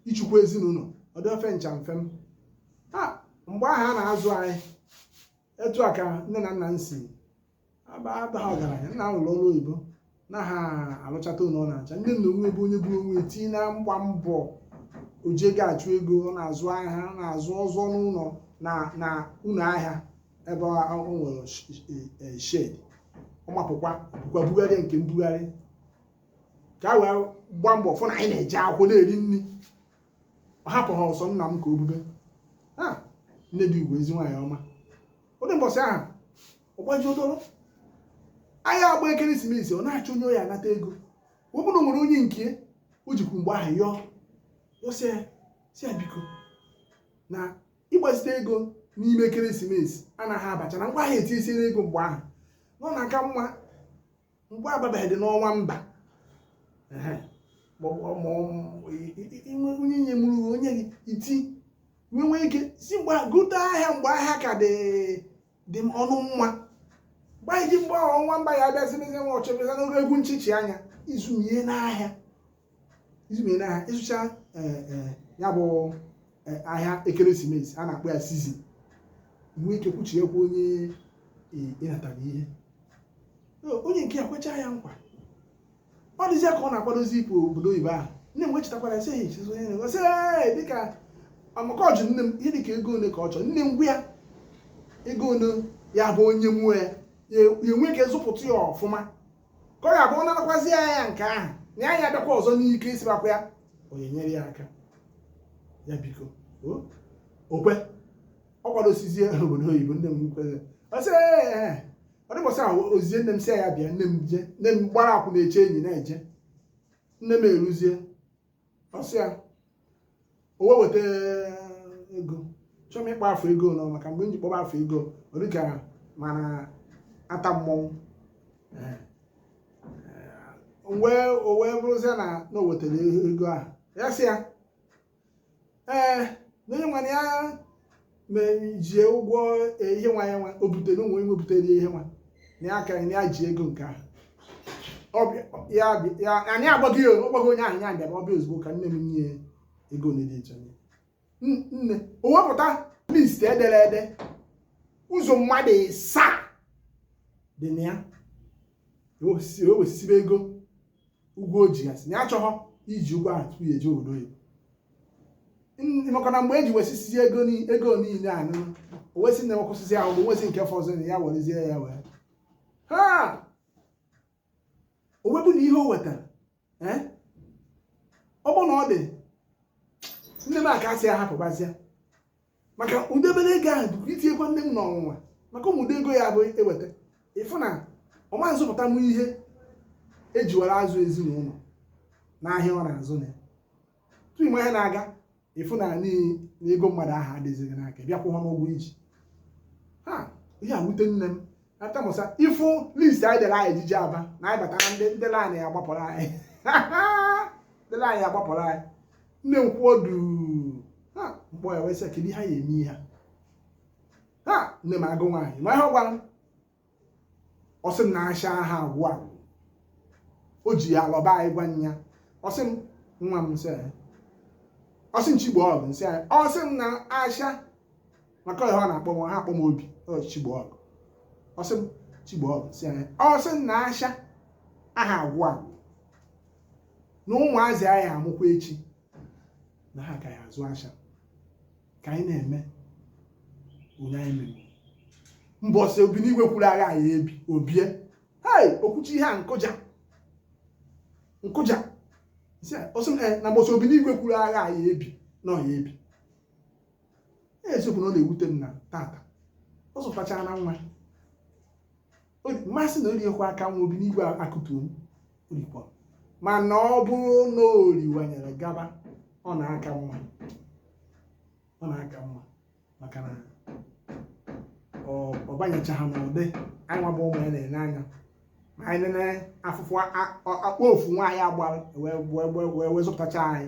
ịchịkwa ezinụlọ ọdọfe ncha mfe m ha mgbe ahụ a na-azụ anyị etu a ka nne na nna m si aba abaghị ọgaranya nna m lụrụ ọrụ oyibo na ha alụchata ụlọ ọ na-acha nne na onwe bụ onye buru onwe tinye na mgba mbọ o ji ga-achụ ego ọ na-azụ ahịa ọ na-azụ ọzọ n'ụlọ na na ụlọ ahịa ebe ọ ọ nwere sh- eh, eh, shed ọ mapụkwa bukwa bugharịa nke mbugharị ka a wee gbaa mbọ fụ na anyị na-eje akwụkwọ na-eri nri ọ hapụha sọ nna m ka o bube ha nne dị ugwu ezi nwaanyị ọma ụdị mbọsị ahụ ọ gbajuo dọrọ ahịa agba ekeresimesi ọ na-achọ onye ọ ya-anata ego ọ bụrụ nwere onye nke o jikwu mgbe ahụ yọọ yọsịa si ya biko na ịgbazite ego n'ime ekeresimesi anaghị abacha na ngwa ahịa etinyesiere ego mgbe ahụ na ọ na-aka mma mgbe ababeghị dị n'ọnwa ember onye nye mụrụ onye gị iti nwee ike si mgbe gota ahịa mgbe ahịa ka dị ọnụ mma mgbe anyị ji mgbe ahụ ọnwa ember ya abịazi mezi nwa ọchọbịa n'oge egwu nchichi anya izumie n'ahịa izumere ha ịzụcha eh, eh, ya bụ eh, ahịa ekeresimesi a na-akpọ ya season nwee ike kwụchiekwa onye ị natara ihe onye nke ya kwechaa ya nkwa ọ dịzịa ka ọ na-akwadozi ịpụ obodo oyibo ahụ nne m wechetakwara sị ehi chizo onye na-egosi dịka amaka ọ jụ nne m ihe dịka ego ole ka ọ chọrọ nne m gwa ya ego ole ya bụ o nye m ya ya enwee ike zụpụta ya ọfụma ka ọ ga-abụ ọ narakwazi ya ya nke ahụ na ya ya abịakwa ọzọ n'ike isibakwa ya onye nyere ya aka ya biko o okwe ọ kwadosizie obodo oyibo nne m kwere ọ sị "Ee, ee, ee." ọ dị ụbọsị ahụ o zizie nne m sị ya bịa nne m je nne m gbara akwụ na-eche enyi na-eje nne m eruzie ọ sị ya o wee weta ego chọọ m ịkpọ afa ego nọ maka mgbe m ji kpọba afa ego ọ dịka m na-atamu ọnụ wee o wee bụrụzie na na o wetara ego ahụ ya sị ya ee na onye nwa na ya ji ụgwọ e, ihe nwa ya nwa o butere onwe nwe butere ihe nwa na ya aka na ya ji ego nke ahụ anyị agbaghị ya ọ gbaghị onye ahụ ya bịara ọbịa ozugbo ka nne m nye ego na dị nne o wepụta list edere ede ụzọ mmadụ ịsaa dị na ya ewesibe ego ụgwọ o ji ya sị na ya achọghọ iji ụgwọ ahụ tupu ya eje obodo oyibo N- maka na mgbe e ji wesisizi ego ni- ego niile ahụ o wesị na wee kwụsịzi ahụ nwesị nke fọzọ na ya werezie ya wee ha o wee bụ na ihe o wetara ee ọ bụ na ọ dị nne m ka a sị ya hapụbazịa maka ụdị obere ego ahụ bụkwa itinyekwa nne m n'ọnwụnwa maka ụmụdị ego ya bụ e weta ị fụ na ọ ma nzụpụta m ihe e jiwara azụ ezinụlọ n'ahịa ọ na-azụ na ya tupu ị ma ihe na-aga ị fụ na n'ihi na ego mmadụ ahụ adịzighị n'aka bịa kwụọ ha ụgwọ i ji ha ihe a wute nne m atamusa ị fụ list anyị dere anyị ji eje Aba na anyị batara ndị ndị line ya gbapụrụ anyị ndị line ya gbapụrụ anyị nne m kwụ ọdụ ha m kpọ ya wee sị kedu ihe anyị ya-eme ihe a nne m agụ nwaanyị ma ihe ọ gwara m ọ sị m na asha aha agwụ agwụ o ji ya alọba anyị gwa ya ọ sị m nwa m sị ọ sị m Chigboọgụ m sị anyị ọ sị m na asha maka ọ ihe ọ na-akpọ m ọ ha akpọ m Obi Chigboọgụ ọ sị m Chigboọgụ m sị anya ọ sị m na asha aha agwụ agwụ na ụmụazị a ya-amụkwa echi na ha ka ya-azụ asha ka anyị na-eme onye anyị mere mbọsị Obinigwe kwuru agha a ya-ebi o bie hei o kwucha ihe a m kụja m kụja ọ sị m eh, na mbọsị Obinigwe kwuru agha a ya-ebi na ọ ya-ebi eziokwu na ọ na-ewute m na tata ọ zụpụtachara anyị nwa m ma sị na o riekwa aka nwa Obinigwe akụtuo o rikwa mana ọ bụrụ na o riwanyere gaba ọ na-aka mma ọ na-aka mma maka na ọ banyechaha n'ụdị anyị nwa bụ ụmụ ya na-ene anya ma anyị nene afụfụ akpọ ofu nwaanyị a gbara wee zụpụtacha anyị